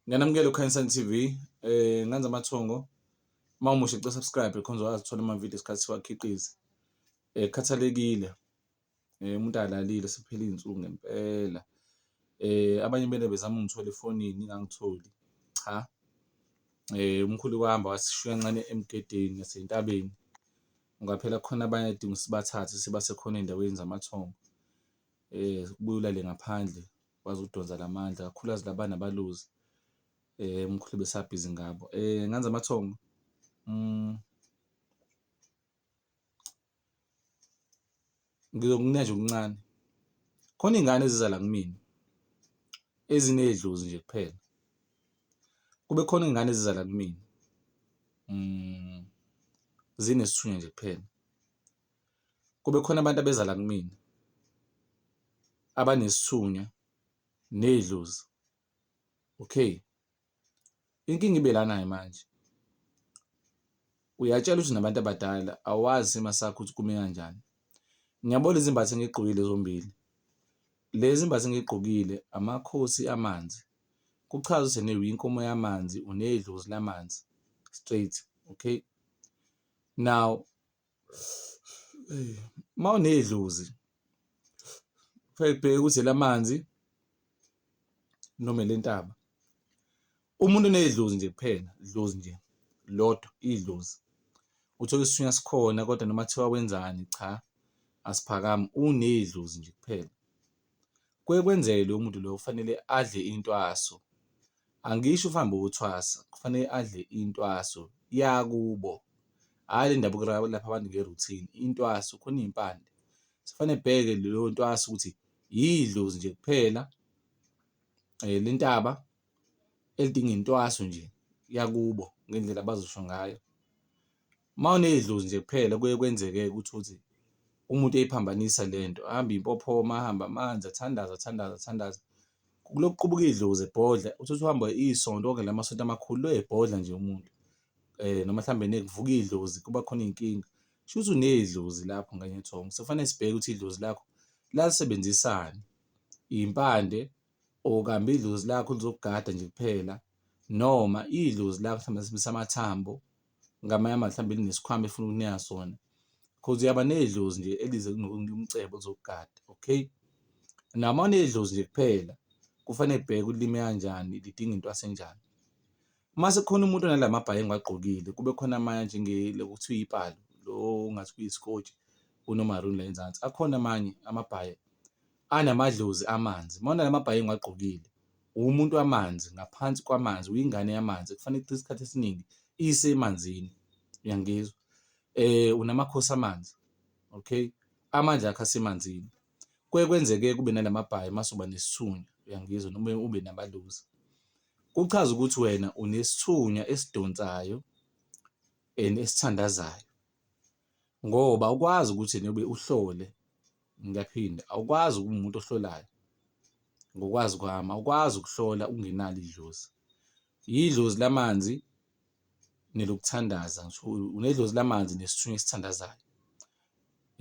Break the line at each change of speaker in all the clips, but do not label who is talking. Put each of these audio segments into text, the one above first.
Ngiyanamukela uKhansan TV eh nganza amathongo uma umusha cela subscribe khonza wazithola ama video isikhathi siwakhiqiza eh khathalekile eh umuntu alalile siphela izinsuku ngempela eh abanye bene bezama ungithola efonini ngangitholi cha eh umkhulu wahamba wasishiya ncane emgedeni nasentabeni ungaphela khona abanye adinga sibathathe sibase khona endaweni zamathongo eh kubuyula le ngaphandle wazi ukudonsa la mandla, kakhulukazi laba abanabaluzi umkhulu ubesabhizi ngabo. Nganza amathongo mm. ngizokunika nje okuncane khona iy'ngane eziza la kumina ezinedlozi nje kuphela kube khona iy'ngane eziza la kumina mm. zinesithunywa nje kuphela kube khona abantu abeza la kumina abanesithunywa nedlozi, okay. Inkinga ibe lana-ke manje, uyatshelwa ukuthi unabantu abadala awazi isimo sakho ukuthi kume kanjani. Ngiyabona lezi zimbatho engigqokile zombili, lezi zimbatho engigqokile amakhosi amanzi, kuchaza ukuthi nawe uyinkomo yamanzi unedlozi lamanzi straight, okay. Now Uma unedlozi kufanele kubheke ukuthi elamanzi noma elentaba. Umuntu onedlozi nje kuphela, idlozi nje lodwa, idlozi. Uthole isithunywa sikhona kodwa noma kuthiwa wenzani cha asiphakami, unedlozi nje kuphela. Kuye kwenzeke loyo muntu loyo kufanele adle intwaso, angisho ukuhamba uyothwasa kufanele adle intwaso yakubo, hhayi le ndabuko elapha abantu nge-routine, intwaso khona iy'mpande. Sekufanele ebheke leyo ntwaso ukuthi yidlozi nje kuphela le ntaba elidinga intwaso nje yakubo ngendlela abazosho ngayo. Uma unedlozi nje kuphela kuye kwenzeke-ke ukuthi uthi umuntu eyiphambanisa le nto, ahambe impophoma, ahambe amanzi, athandaze, athandaze, athandaze. Kulokhu qubuka idlozi ebhodla, uthi uthi uhamba isonto okanye la masonto amakhulu lo ebhodla nje umuntu um noma mhlawumbe nekuvuka idlozi kuba khona iy'nkinga. Shuthi unedlozi lapho nganye thongo, sekufanele sibheke ukuthi idlozi lakho lalisebenzisani, iy'mpande or kambe idlozi lakho lizokugada nje kuphela noma idlozi lakho mhlawumbe lisebenzisa amathambo. ngamanye ama mhlawumbe linesikhwama efuna ukunika sona cause uyaba nedlozi nje elize kunokunika umcebo zokugada okay noma unedlozi nje kuphela kufanele bheke ulime kanjani lidinga into asenjani uma sekukhona umuntu onalamabhayi engiwagqokile kube khona amanye njenge lokuthiwa ipalo lo ngathi kuyisikotshi unomaroon la enzansi akhona amanye amabhayi anamadlozi amanzi, uma unawo amabhayi engiwagqokile, uwumuntu wamanzi, ngaphansi kwamanzi, uyingane yamanzi, kufanele ichithe isikhathi esiningi isemanzini, uyangizwa? Unamakhosi amanzi, okay, amandla akho asemanzini. Kuye kwenzeke-ke ube nala mabhayi uma usuba nesithunywa, uyangizwa? Noma ube namadlozi. Kuchaza ukuthi wena unesithunywa esidonsayo and esithandazayo. ngoba awukwazi ukuthi ena ube uhlole ngiyaphinde awukwazi ukuba umuntu ohlolayo ngokwazi kwami awukwazi ukuhlola ungenalo idlozi yidlozi lamanzi nelokuthandaza ngisho unedlozi lamanzi nesithunywa esithandazayo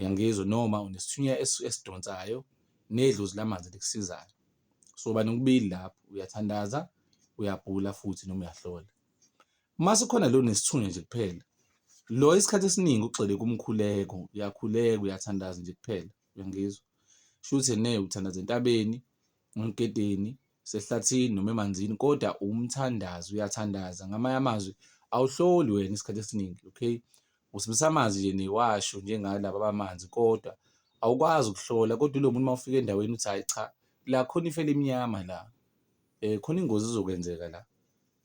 yangizwa noma unesithunywa esidonsayo nedlozi lamanzi likusizayo so bani kubili lapho uyathandaza uyabhula futhi noma uyahlola Uma sikhona lo nesithunywa nje kuphela lo isikhathi esiningi ugxile kumkhuleko uyakhuleka uyathandaza nje kuphela uyangizwa shuthi ne uthandaza entabeni emgedeni sehlathini noma emanzini kodwa umthandazi uyathandaza ngamanye amazwi awuhloli wena isikhathi esiningi okay usibisa amanzi nje newasho njengalaba bamanzi kodwa awukwazi ukuhlola kodwa lo muntu uma ufika endaweni uthi hayi cha la khona ifele emnyama la um khona ingozi izokwenzeka la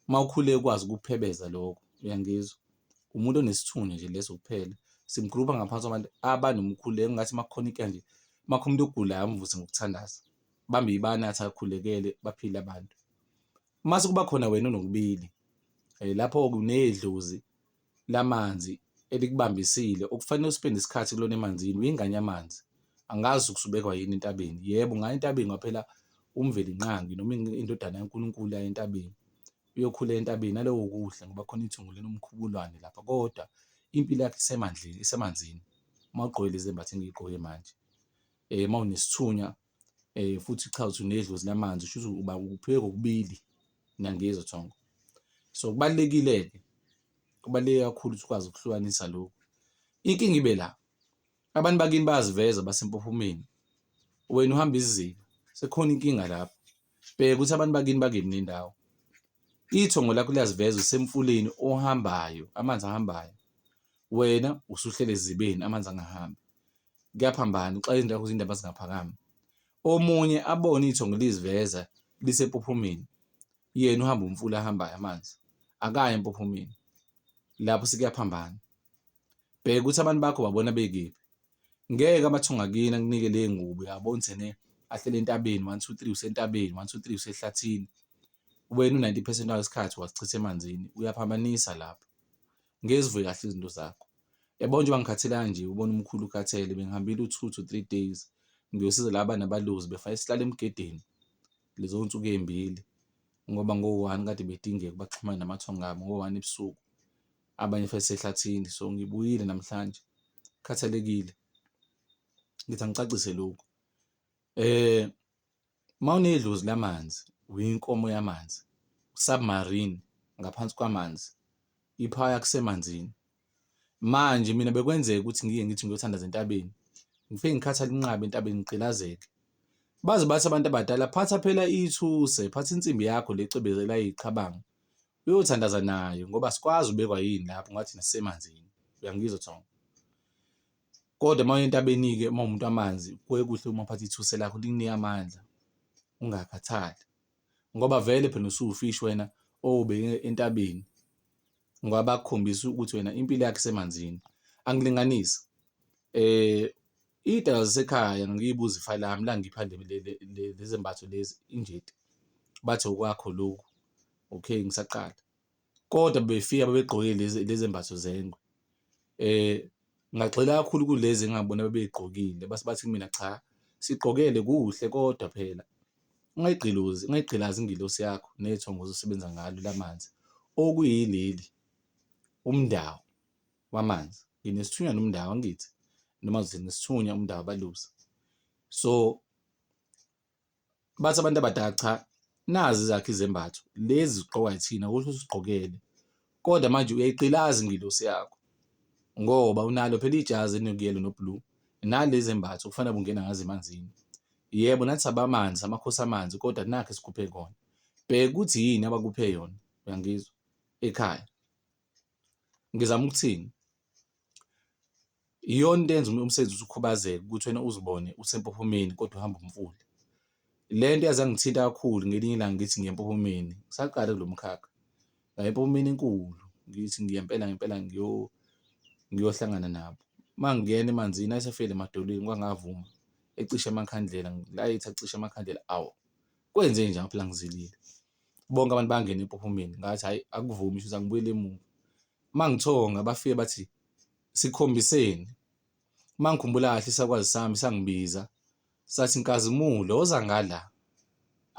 uma ukhule ukwazi ukuphebeza lokho uyangizwa umuntu onesithunywa nje leso kuphela simgrupha ngaphansi kwabantu abanomkhulu engathi uma kukhona into nje uma kukhona umuntu ogulayo amvuse ngokuthandaza bambe ibani athi akhulekele baphile abantu uma sekuba khona wena onokubili eh, lapho kunedlozi lamanzi elikubambisile okufanele uspende isikhathi kulona emanzini uyingane yamanzi angazi kusubekwa yini entabeni yebo ngaye entabeni kwaphela umveli nqangi noma indodana yaNkulunkulu yaye entabeni uyokhula entabeni nalowo kudla ngoba khona ithungu linomkhubulwane lapha kodwa impilo yakhe isemandleni isemanzini uma ugqoke lezi mbatho engiyigqoke manje uma unesithunywa futhi cha uthi unedlozi lamanzi shuthi uba upheke kokubili niyangizwa Thongo. So kubalulekile-ke kubaluleke kakhulu ukuthi ukwazi ukuhlukanisa lokhu. Inkinga ibe la abantu bakini bayaziveza basempophomeni wena uhamba izizinda sekhona inkinga lapho bheka ukuthi abantu bakini bakephi nendawo ithongo lakho liyaziveza usemfuleni ohambayo amanzi ahambayo wena usuhlele ezibeni amanzi angahambi kuyaphambana uxaka izinto zakho zindaba zingaphakami omunye abone ithongo liziveza lisempophomeni yena uhamba umfula ahambayo amanzi akaye empophomeni lapho sikuyaphambana bheka ukuthi abantu bakho babona bekephi ngeke amathonga kini akunike le ngubo yabona ukuthi ne ahlele entabeni 1 2 3 usentabeni 1 2 3 usehlathini wena u-90 percent wasikhathi wasichitha emanzini uyaphambanisa lapho ngeke zivuke kahle izinto zakho yabo nje bangikhathelanga nje ubona umkhulu ukhathele bengihambile u-two to three days ngiyosiza laba nabaluzi befake isihlala emgedeni lezo nsuku ey'mbili ngoba ngo-one kade bedingeka baxhumane namathongo abo ngo-one ebusuku abanye futhi sehlathini so ngibuyile namhlanje khathalekile ngithi angicacise lokhu eh Uma unedlozi lamanzi, uyinkomo yamanzi, u-submarine ngaphansi kwamanzi, i-power yakho isemanzini. Manje mina bekwenzeka ukuthi ngike ngithi ngiyothandaza entabeni, ngifike ngikhathale inqaba entabeni ngigqilazeke. Baze bathi abantu abadala, phatha phela ithuse, phatha insimbi yakho le ecwebezela iqhabanga, uyothandaza nayo ngoba asikwazi ubekwa yini lapho ngoba thina sisemanzini. Uyangizwa Thongo? Kodwa uma uya entabeni-ke uma uwumuntu wamanzi kuye kuhle uma uphatha ithuse lakho likunike amandla ungakhathali ngoba vele phela usuwufishi wena owubeke entabeni ngoba bakukhombisa ukuthi wena impilo yakho isemanzini. Angilinganisi um iy'dalwa zasekhaya ngiyibuza ifa lami la ngipha lezi mbatho lezi injeti bathi okwakho lokhu, okay ngisaqala. kodwa bebefika babegqoke lezi lezembatho zengwe. Ngagxila kakhulu kulezi engabona bebey'gqokile base bathi kumina cha sigqokele kuhle kodwa phela ungayigqilozi ungayigqilazi ingelosi yakho nethonga ozosebenza ngalo lamanzi okuyileli uMndawu wamanzi. Nginesithunywa noMndawu angithi noma ngithi nginesithunywa uMndawu abalusi so. bathi abantu abadala cha nazi zakhe izembatho lezi zigqokwa yithina ukuthi usigqokele kodwa manje uyayiqilaza ingilosi yakho ngoba unalo phela ijazi elinokuyelo noblue nalezi zembatho kufanele ungena ngazo emanzini yebo nathi sabamanzi amakhosi amanzi kodwa nakhe sikhuphe kona bheka ukuthi yini abakuphe yona uyangizwa ekhaya ngizama ukuthini Iyona into eyenza umsebenzi uze ukhubazeke ukuthi wena uzibone usempophomeni kodwa uhamba umfula. Le nto yaze yangithinta kakhulu ngelinye ilanga ngithi ngiya empophomeni, ngisaqale kulo mkhakha. Ngaya empophomeni enkulu ngithi ngiya impela ngempela ngiyohlangana nabo. Uma ngingena emanzini ayesefikile emadolweni kwangavuma ecisha amakhandlela, ngilayitha kucisha amakhandlela awu kwenzenjani ngaphela ngizilile. Bonke abantu bangene empophomeni ngathi hhayi akuvumi shuthi angibuyele emuva. Uma ngithonga bafike bathi. sikhombiseni uma ngikhumbula kahle isakwazi sami sangibiza sathi nkazimulo woza ngala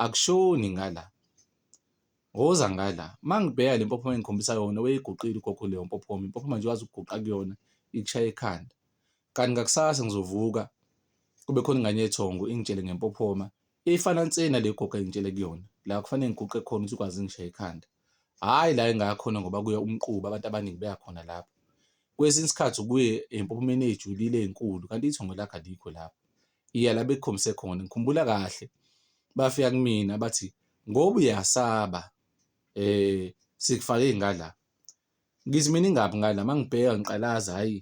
akushoni ngala woza ngala uma ngibheka le mpophoma engikhombisa yona weyiguqile ugogo leyo mpophoma impophoma nje wazi ukuguqa kuyona ikushaye ekhanda kanti ngakusasa ngizovuka kube khona ingane yethongo ingitshele ngempophoma ifana nsena le gogo engitshele kuyona la kufanele ngiguqe khona ukuthi ukwazi ngishaye ekhanda hhayi la engayakhona ngoba kuye umquba abantu abaningi beyakhona lapho. Kwesinye isikhathi ukuye empophomeni ey'julile ey'nkulu kanti ithongo lakhe alikho lapho. Iya la bekukhombise khona, ngikhumbula kahle bafika kumina bathi ngoba uyasaba sikufake ngala. Ngithi mina ingaphi ngani la, uma ngibheka ngiqalaza hhayi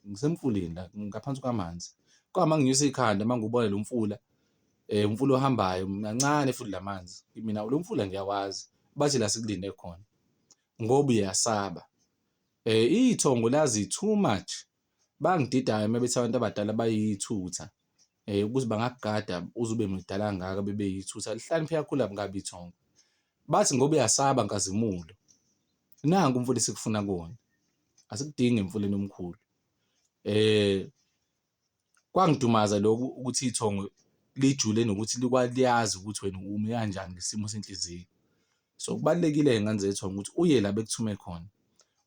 ngisemfuleni la ngaphansi kwamanzi. Kodwa uma nginyusa ikhanda uma ngiwubona lo mfula umfula ohambayo mancane futhi la manzi kimina lo mfula ngiyawazi bathi la sikulinde khona ngoba uyasaba. Iy'thongo lazi too much Bangididayo uma bethi abantu abadala bayithutha ukuthi bangakugada uze ube mdala kangaka bebe yithutha. Lihlakaniphe kakhulu laba kabi ithongo. Bathi ngoba uyasaba nkazimulo. Nanku umfula esikufuna kuwona. Asikudingi emfuleni omkhulu. Eh kwangidumaza lokhu ukuthi ithongo lijule nokuthi likwazi ukuthi wena umi kanjani ngesimo senhliziyo. So kubalulekile-ke ngane zethonga ukuthi uye la bekuthume khona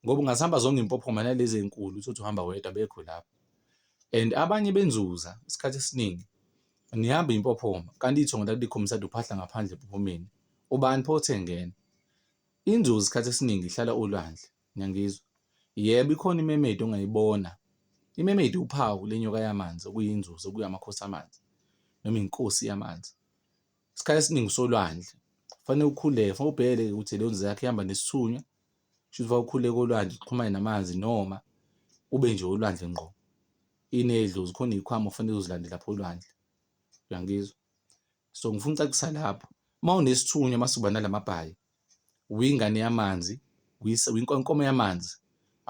ngoba ungasihamba zonke impophoma nalezi enkulu uthi uhamba wedwa bekho lapho and abanye benzuza isikhathi esiningi nihamba impophoma kanti ithongo lakulikhombisa ukuthi uphahla ngaphandle empophomeni ubani pho othe ngena inzuzo isikhathi esiningi ihlala olwandle ngiyangizwa yebo ikhona imemedi ongayibona imemedi uphawu lenyoka yamanzi okuyinzuzo kuyamakhosi amanzi noma inkosi yamanzi isikhathi esiningi usolwandle fanele ukhuleke fanele ubhekele ukuthi leyo nzila yakho ihamba nesithunywa shuthi fanele ukhuleke olwandle uxhumane namanzi noma ube nje olwandle ngqo inedlozi khona iy'khwama kufanele uzilande lapho olwandle uyangizwa so ngifuna ucacisa lapho uma unesithunywa masuba nalamabhayi uyingane yamanzi, uyinkomo yamanzi,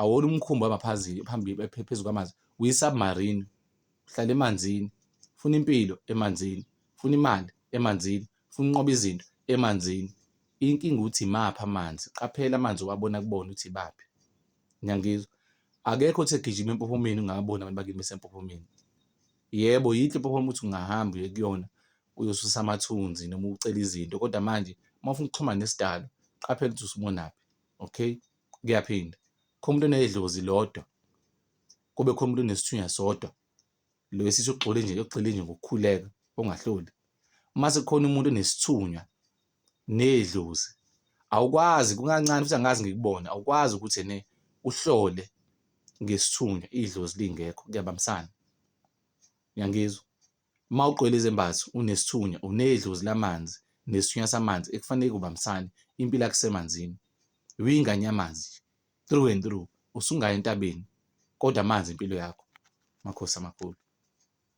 awona umkhumbi ohamba phazili phambili phezu kwamanzi, uyi-submarine, uhlala emanzini, ufuna impilo emanzini, ufuna imali emanzini, ufuna ukunqoba izinto emanzini. Inkinga ukuthi imaphi amanzi, qaphela amanzi owabona kubona ukuthi ibaphi, niyangizwa? Akekho othi egijima empophomeni ungababoni abantu bakini besempophomeni. Yebo, yinhle impophoma ukuthi ungahamba uye kuyona uyosusa amathunzi noma ucela izinto kodwa manje uma ufuna ukuxhumana nesidalo qaphela ukuthi usubonaphi okay kuyaphinda khona umuntu onedlozi lodwa kube khona umuntu onesithunya sodwa lo esithi ugxile nje ugxile nje ngokukhuleka ongahloli uma sekukhona umuntu onesithunywa nedlozi awukwazi kungancane futhi angazi ngikubona awukwazi ukuthi ne uhlole ngesithunywa idlozi lingekho kuyabambisana uyangizwa Uma ugqwele izembatho, unesithunywa, unedlozi lamanzi nesithunywa samanzi ekufanele kubambisane, impilo yakho isemanzini. Uyingane yamanzi nje, through and through. Usungaya entabeni kodwa amanzi impilo yakho. Makhosi amakhulu.